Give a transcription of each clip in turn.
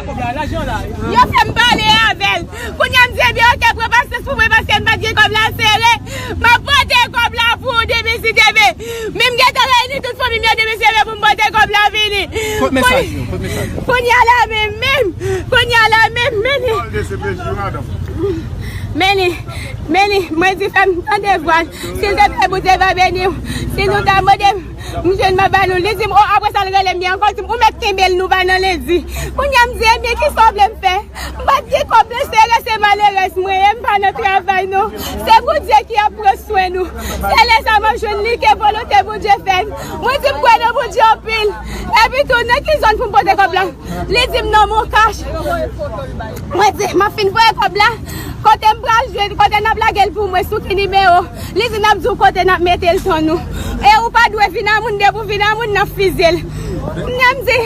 Yo fè m pale avè l. Kounya m di ebyen ok pran pasyans pou mwen paske m pa t gen kòb la sere. M ap pote kòb la pou ou demen si demen. Men m gentan reyini tout fanmi m yo demen si demen pou m pote kòb la vini. Kounya la menm menm. Kounya la menm menni. Menni. Menni. Mwen di fè m tande vwa l. Silvouplè Bondye va beni w. Si nou ta mande m. M jwenn mwen ba nou, li di m o apre sa l rele m byen ankò l di m ou mèt kenbe l nou va nan lendi. Kounye a m di ebyen kisa w vle m fè? M pa t gen kòb nan sere se malerèz mwen ye m pa nan travay non. Se Bondye ki ap pran swen nou. Se lè sa m ap jwenn li ke volonte Bondye fèt. Mwen di m kwè nan Bondye anpil. Epi tou nan ki zòn pou m pote kòb la? Li di m nan Moncash. Mwen di m ap fin voye kòb la. Kote m pral jwenn, kote nap lagel pou mwen sou ki nimero, li di nap diw kote nap metel ton nou e ou pa dwe vin a moun depi ou vin a moun nap fizyel kounya m di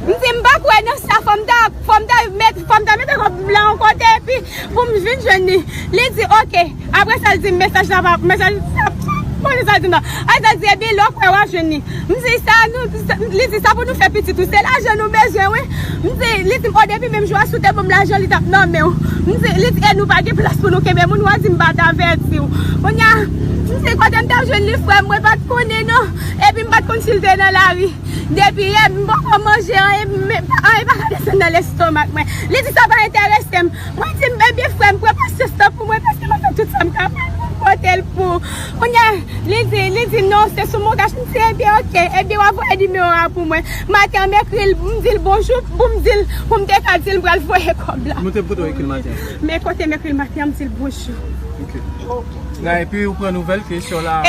m di m pa kwè nan sa fòm ta fòm ta met fòm ta mete kòb m lan yon kote epi poum vin jwenn li li di ok aprè sa l dim mesaj la pa mesaj sa m pa konn sa l dim nan aprè sa l di ebyen lè w kwè wap jwenn li. M di sa nou, li di sa pou nou fè pitit ou, se lajan nou bezwen wi, m di, li di m o depi menm jou a si w te banm lajan li tap nan menw, m di, li di e nou pa gen plas pou nou kenbe moun wa di m pat avètiw, kounya m di kote m tap jwenn li frèm mwen pat konnen non, epi m pat konn sil te nan lari, depi yè m poko manje anyen, anyen paka desann nan lestomak mwen, li di sa pa entèresem, mwen di m ebyen frèm pran pasyans lan pou mwen paske map fè tout sam kapab poum potel pou. Kounya li di li di non se sou Mocash m di ebyen ok ebyen wap voye nimewo a pou mwen maten m ekri l m di l bonjou pou m di l pou m te ka di l m pral voye kòb la men kote m ekri l maten an m di l bonjou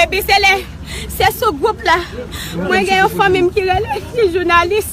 epi se lè se sou gwoup la mwen gen yon fanmi m ki rele ti jounalis.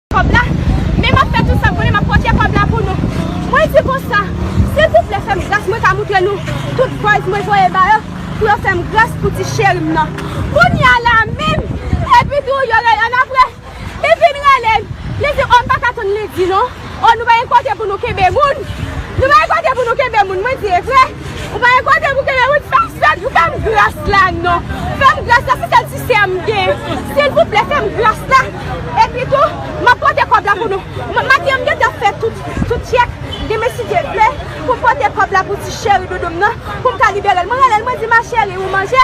Kòb la, men map fè tout sak konnen map pote kòb la pou nou. Mwen di konsa, silvouplè fèm gras mwen ka moutre nou tout buzz mwen voye ba yo pou yo fèm gras pou ti cherim nan. Kounya la menm epi tou yo rele an aprè li fin relem li di oh mpaka tann li di non oh nou pa gen kote pou nou kenbe moun nou pa gen kote pou nou kenbe moun mwen di evrè. Ou pa gen kote pou kenbe wout fèm sèt pou fèm gras la non fèm gras la se sèl ti sèm gen silvouplè fèm gras la epi tou map pote kòb la pou nou maten mgen tap fè tout tout chèk demen si Dye vle poum pote kòb la pou ti cheri doudou m nan poum ka liberel mwen relel mwen di ma cheri ou manje.